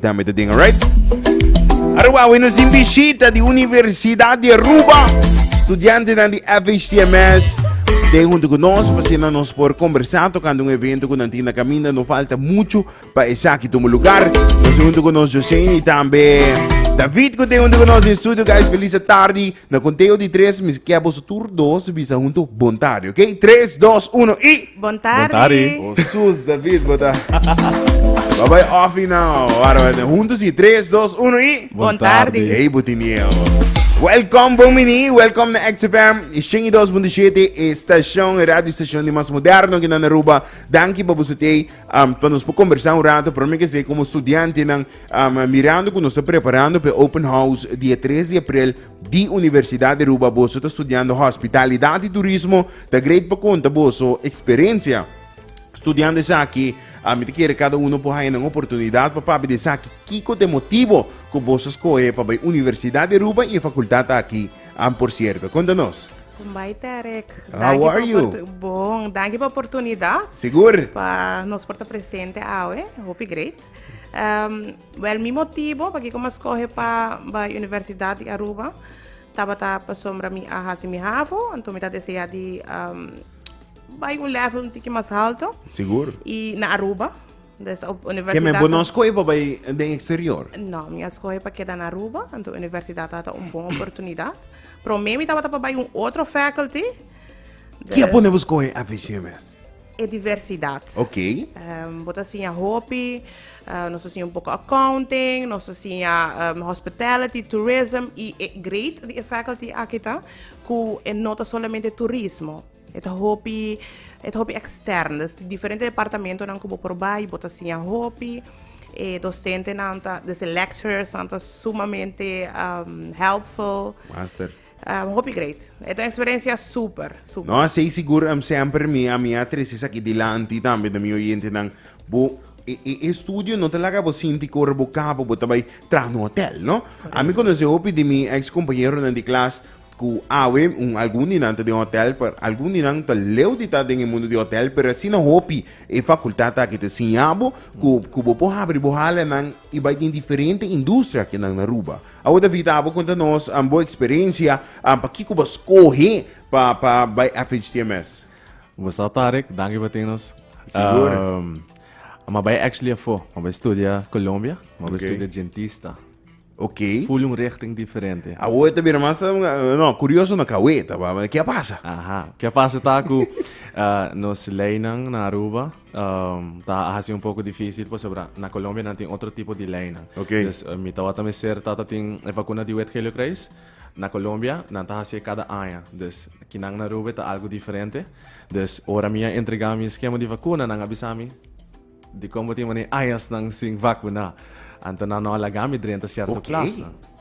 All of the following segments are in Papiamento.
Dame te ding, alright? Aruba, we nos din bishita di Universidad di Aruba. Studiante nan di FHTMS. Te junto con nos, pasina nos por conversar tocando un evento con Antina Caminda. No falta mucho pa esaki tomo lugar. Nos junto con nos José y también David, que te junto con nos en studio. Guys, feliz tarde. Na konteo di tres mi kè boso tur dos bisa huntu Bon tardi, ok? Tres, dos, uno i! Bon tardi! O sus, David bo ta Bo bai offi now. Wara wèt, huntu si, tres, dos, uno i! Bon tardi! Ey, bo tin mieu. Welkom, bon mini, welkom na XFM 102.7, e stashon, e radio stashon di mas moderno kinan Aruba. Danki pa boso tei, um, pa nos por kombersá un rato, pero mi ke se komo studiantenan, Um mirando cu nos ta preparando p'e open house di e tres di april di Universidad di Aruba, boso ta studiando Hospitalidad y Turismo, ta great pa conta boso experiencia studiando esaki. Um mi ta kere cada uno por haya nan oportunidad pa papia di esaki kico ta e motibo cu boso scoge pa bay Universidad di Aruba y e facultad aki um por cierto. Conta nos. Con bay Derek. How Danki are pa you? oportu- Bon, danki pa oportunidad Sigur? pa nos por ta presente awe. Hopi great. Um, well, mi motivo pa kiko ma skohe pa bai Universidad di Aruba tabata pasobra mi a hasi mi havo, anto mi ta desea di um, bai un level un tiki mas alto. Sigur. I na Aruba. Dus op Keme universidad. bo no skoe pa bai den exterior. No, mi a skohe pa keda na Aruba, anto universidad ata un bon oportunidad. Prome mi tabata pa bai un otro faculty. Kia Dus- pone bo skoe FHMS? e diversidad. Ok. Um, bo ta siña hopi, uh, nos ta siña un poco accounting, nos ta siña um, hospitality, tourism, y e great di e faculty aquí ta, cu e no ta solamente turismo, e ta hopi, e ta hopi extern, dus diferente departamento nan cu bo por bai, bo ta siña hopi, e docente nan ta, dus e lecturers nan ta sumamente um, helpful. Master. Um hopi great. E ta un experiencia super, super. No, sei sigur em semper mi a mi a trece esaki dilanti tambe na mi oyentenan. Bo e, e, e studio no ta laga bo sinti cu ora bo cabo bo ta bay traha na hotel, no? A mi conoce hopi di mi ex compañeronan di klas cu awe un algun di nan ta den hotel, pero algun di nan ta leu di ta den e mundo di hotel, pero asina hopi e facultad aki ta siña bo cu, cu bo por habri bo halanan y bay den diferente industria aki nan na Aruba. Awor ta vita abo konta nos bo eksperensia an pakico bo skohe pa pa bai FHTMS. Bosa Tarek, danki pa tin nos. Sigur. Um, ma bai actually afo, ma bai studia Colombia, ma bai okay. studia dentista. Ok. Full un richting diferente. A oe te bira mas, no, curioso na kaweta, ba, kia pasa? Aha, kia pasa taku, uh, nos leinan na Aruba, Ta hasi un poko difisil pasobra na Colombia nan tin otro tipo di leinan. Ok. Dus mi tawata mester tata tin e vakuna di wet heliokruis. Na Colombia nan ta hasié kada aña. Dus kinan na Aruba ta algu diferente. Dus ora mi a entregá mi skema di vakuna nan a bisa mi dikon bo tin manera añasnan sin vakuná. Anto nan no a laga mi drenta sierto plasnan. Ok.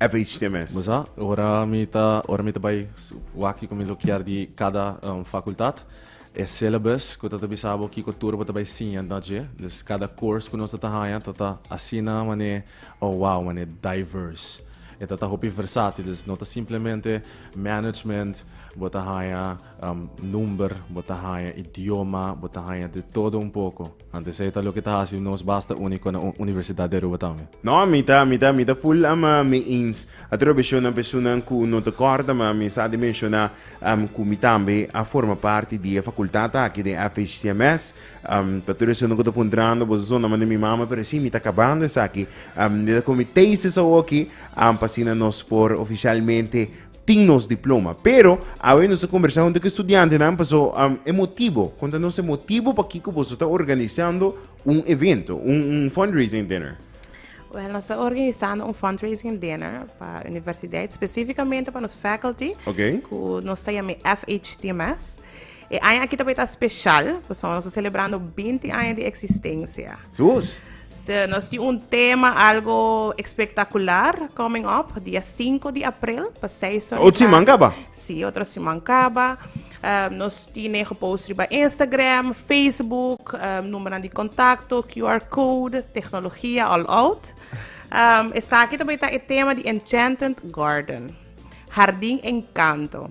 FHT mes. Bo sa, ora mi ta ora mi ta bai wak ku mi lo kier di kada fakultat, e syllabus ku ta ta bisa bo kiko tur bo ta bai siña na dje. Dus kada course ku nos ta ta haña ta ta asina manera, oh wow, manera diverse. E ta ta hopi versatil, dus no ta simplemente management, bo ta haña number, bo ta haña idioma, bo ta haña de todo un poco. Antes ei ta loke ta hasi nos basta úniko na un universidat di Aruba tambe. No, mi ta, mi ta, mi ta full ama mee eens. A tur a beshon nan personan ku no ta kòrda, ma mi sa di menshoná am ku mi tambe a forma parti di e fakultat aki den FHCMS. Am pa tur esun no ku ta puntrando boso son naman di mi mama, pero sí, mi ta kabando esaki. Am mi ta ku mi thesis awoki, am pa asina nos por ofishalmente tin nos diploma. Pero, awe nos a conversa junto con estudiantenan, paso um, e motivo, conta nos e motivo pa kiko boso ta organizando un evento, un, un fundraising dinner. Well, nos está organizando un fundraising dinner para la universidad, específicamente para los faculty, okay. que nos está llamando FHTMS. E aña aki ta por ta special, pasobra nos ta celebrando binti aña di existencia. Sus! So, nos tin un tema algo espectacular coming up, dia 5 di april, pa 6 ora. Otro siman caba? Si, otro siman caba. Um, nos tiene gepost riba Instagram, Facebook, um, numero di contacto, QR code, tecnologia all out. Um, esaki también está el tema de Enchanted Garden, Jardín Encanto.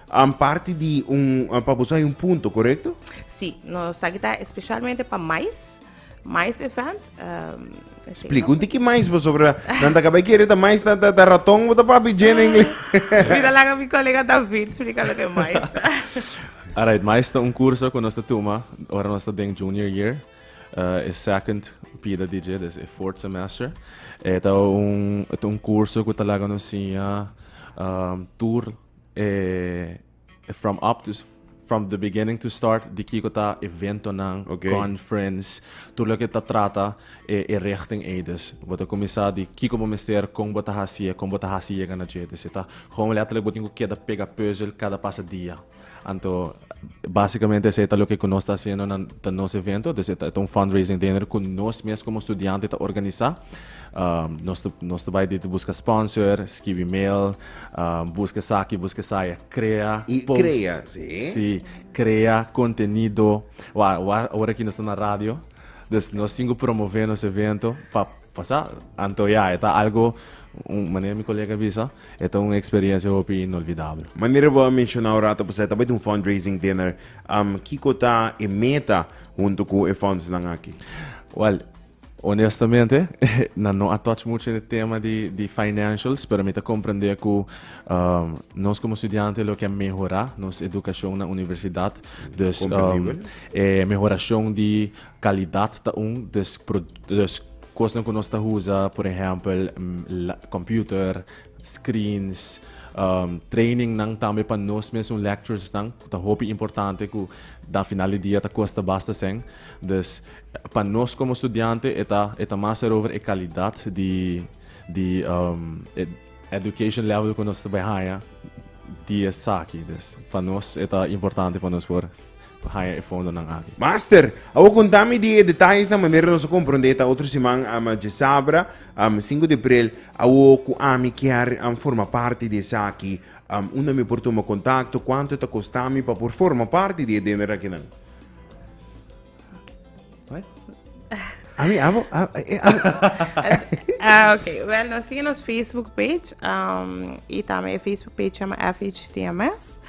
An parti di un, ah, pa boso hay un punto, correcto? Sí, nos sa ki ta especialmente pa mais, mais event. Um, ese Explica un tiki mais, pasobra nan ta cabai kere ta mais, ta, ta, ta ratón, bo ta papi Jenny English. Mira la mi colega David explica lo que es mais. Alright, maar is ta un curso ku nos ta tuma ora nos ta den junior year. Uh, e second pida DJ, dus e fourth semester. E ta un, e ta un curso ku ta laga nos siña um, tur E from up to from the beginning to start di kiko ta eventonan, okay. conference, tur loke ta trata e, e richting eides. Bo ta cominsá di kiko bo mester, kon bo ta hasié, kon bo ta hasi yega na dje. Dus ta gewoon letterlijk bo tin ku keda pega puzzel kada pasa dia. Anto básicamente ese ta lo que nos está haciendo en nos evento, dus eta un fundraising dinner ku nos mes como estudiante ta organisa. Um, nos nos ta bai di busca sponsor, skibi mail, Busca esaki, busca esai, a crea post. Y crea, si. Si, crea contenido. Wak, awor, awor aki nos ta na radio, dus nos tin cu promove nos evento pa, pa sa, antoya. E ta algo, un, manera mi colega a bisa, e ta un experiencia hopi inolvidable. Manera bo a menciona un rato paso, e ta bay tin un fundraising dinner. Kico ta e meta hunto cu e fundsnan aki? Wel. Honestamente, nan no a touch mucho den e tema di, di financials, pero mi ta comprende cu um, nos como estudiante lo que a mehora nos educacion na universidad. Dus um, Comprendible. e mehoracion di calidad ta un, dus, pro- dus cosnan cu nos ta usa, por ejempel, mm, la- computer, screens, um, trainingnan tambe pa nos mesun lecturesnan, cu ta hopi importante cu da final di dia ta custa basta sen. Dus Pa nos komo studiante e ta e ta mas ser over e kalidat di di e education level ku nos ta bai haña di esaki. Des pa nos e ta importante pa nos por haña e fondonan aki. Master, awor konta mi di e detayesnan manera nos a komprondé ta otro siman djesabra, sinku di aprel, awor ku ami kier forma parti di esaki, unda mi por tuma kontakto, kuantu ta kostami pa por forma parti di e diner akinan? What? I mean, amo, ah, eh, amo. Ah, ok. Well, nos sigue nos Facebook page. Um, y también Facebook page chama FHTMS.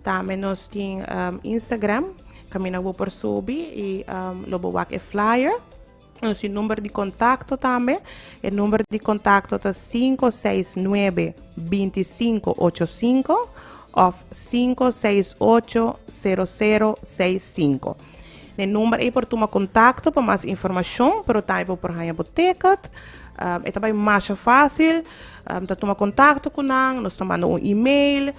También nos tiene um, Instagram. Camina por Sobi y um, lo bewak e flyer. Nos tin number di contacto tambe. E number di contacto ta 569-2585 of 568-0065. Ne number ei por tuma contacto pa mas informacion, pero tambe bo por haya bo ticket. Um, e ta bai masha fácil. Um, ta tuma contacto cu nan, nos ta manda un e-mail.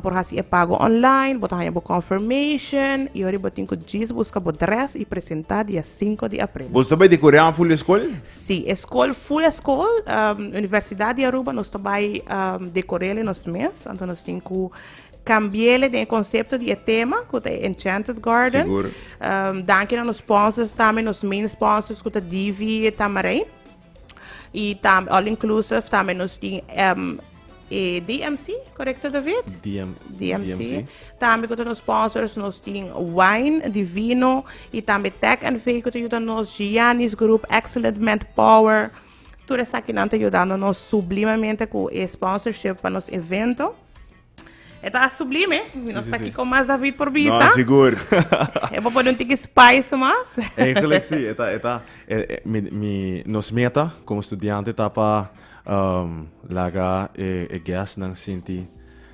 Por hasi e pago online, bo ta haña bo confirmation y ora bo tin cu djis busca bo dress y presenta dia sinku di april. Boso ta bai di Koreaan full eskol? Sí, eskol full eskol, Universidad di Aruba nos ta bai decor'ele nos mes, anto nos tin cu cambi'ele den e concepto di e tema cu ta e Enchanted Garden. Sigur. Danki na nos sponsors tambe, nos main sponsors cu ta DV Tamarijn. Y tam all inclusive tambe nos tin em, eh, DMC, correcto David? DM, DMC. DMC. Tambe con nos sponsors nos tin wine, di vino y tambe Tech and Vee con ayuda nos Giannis Group, Excellent Manpower. Tur esaki nan ta ayudando nos sublimamente cu e sponsorship pa nos evento. E ta sublime. Mi no sa kiko mas David por bisa. No, sigur. e por pone un tiki spice mas. Eigenlijk si. E ta, e ta. E, e, mi, mi, nos meta como estudiante ta pa um, laga e, e guest nan sinti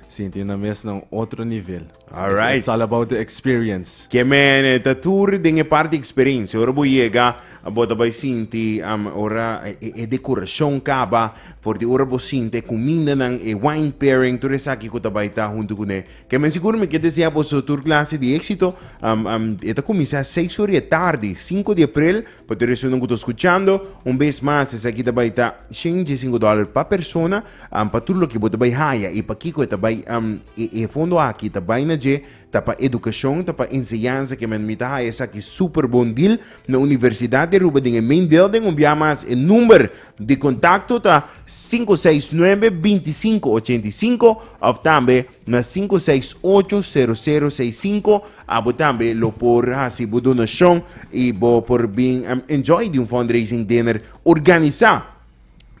sinti na mes na otro nivel. Alright. It's, it's all about the experience. Que men, e ta tur den e parte experiencia. Ora bo llega Bo ta bai sinti am ora e dekorashon kaba, for di ora bo sinti e kumindanan, e wine pairing, tur esaki ku ta bai ta huntu kuné. Ke men sigur mi ke desea boso tur klase di éksito. Am am e ta kuminsá seis ora di e tardi, sinku di aprel, pa tur esunnan ku ta skuchando. Un bes mas esaki ta bai ta shenta i sinku dòler pa persona, am pa tur loke bo ta bai haya i pakiko e ta bai am e e fondo aki ta bai na dje Ta pa edukashon, ta pa enseñansa ke men mi ta haya esaki super bon deal na Universidad di Aruba den e main deel den un bia mas. E number di kontakto ta sinku seis nuebe binti sinku ochenta i sinku of tambe na sinku seis ocho sero sero seis sinku. Abo tambe lo por hasi bo donashon i bo por bin enjoy di un fundraising dinner organisa.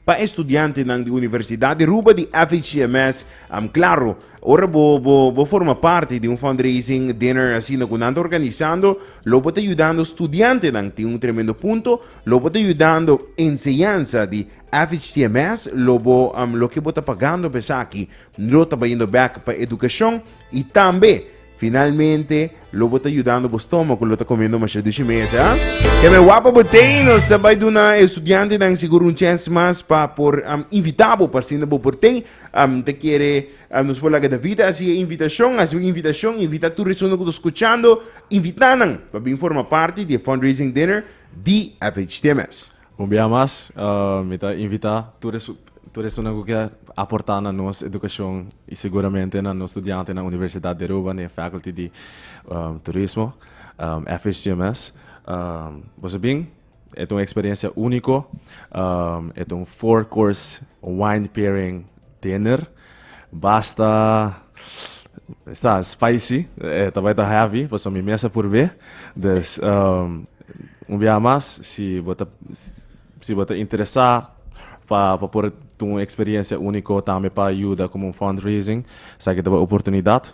Pa e studiantenan di Universidat di Aruba di FHCMS, am claro, ora bo bo forma parti di un fundraising dinner asina cu nan ta organisando, lo bo ta yudando studiantenan tin un tremendo punto, lo bo ta yudando enseñansa di FHCMS, lo bo loke bo ta pagando pa esaki lo ta bayendo bek pa educacion y tambe, Finalmente, lo bo ta yudando bo stómago, lo ta comiendo masha dushi mes, ah? Que me guapa botei, nos ta bai duna estudiante dan seguro un chance mas pa por um, invita bo pa sinda bo portei, um, te quiere, um, nos por laga David así e invitación, así un invitación, invita tu resuno que to escuchando, invitanan pa bin forma parte di fundraising dinner di FHTMS. Un bia mas, mi ta invitá tur e tur esunnan ku ke aportá na nos edukashon i seguramente na nos studiantenan di Universidat di Aruba, den e Faculty di Turismo, FHTMS. Boso bin, e ta un eksperensia úniko, e ta un four course wine pairing dinner. Basta esta spicy, eh, ta bai ta heavy, paso mi mesa por be. Dus, um, un biaha mas, si bo ta, si bo ta interesa pa, pa por tuma un experiencia unico, tambe pa yuda como un fundraising, esaki ta bai oportunidad.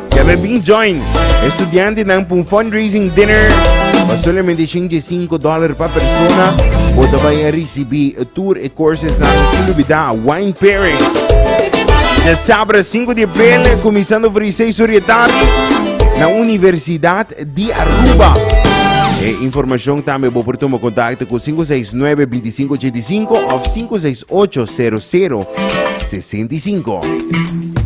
Ya me bin join e studiantenan pa un fundraising dinner pa solamente shinchi e sinku dòler pa persona. Bo ta bai a risibí tur e coursesnan sin lubidá wine pairing. De sabra 5 di april, kuminsando for di 6 ur di e tardi, na Universidad di Aruba. E informashon tambe bo por tuma kontakto ku 569-2585 of 568-0065.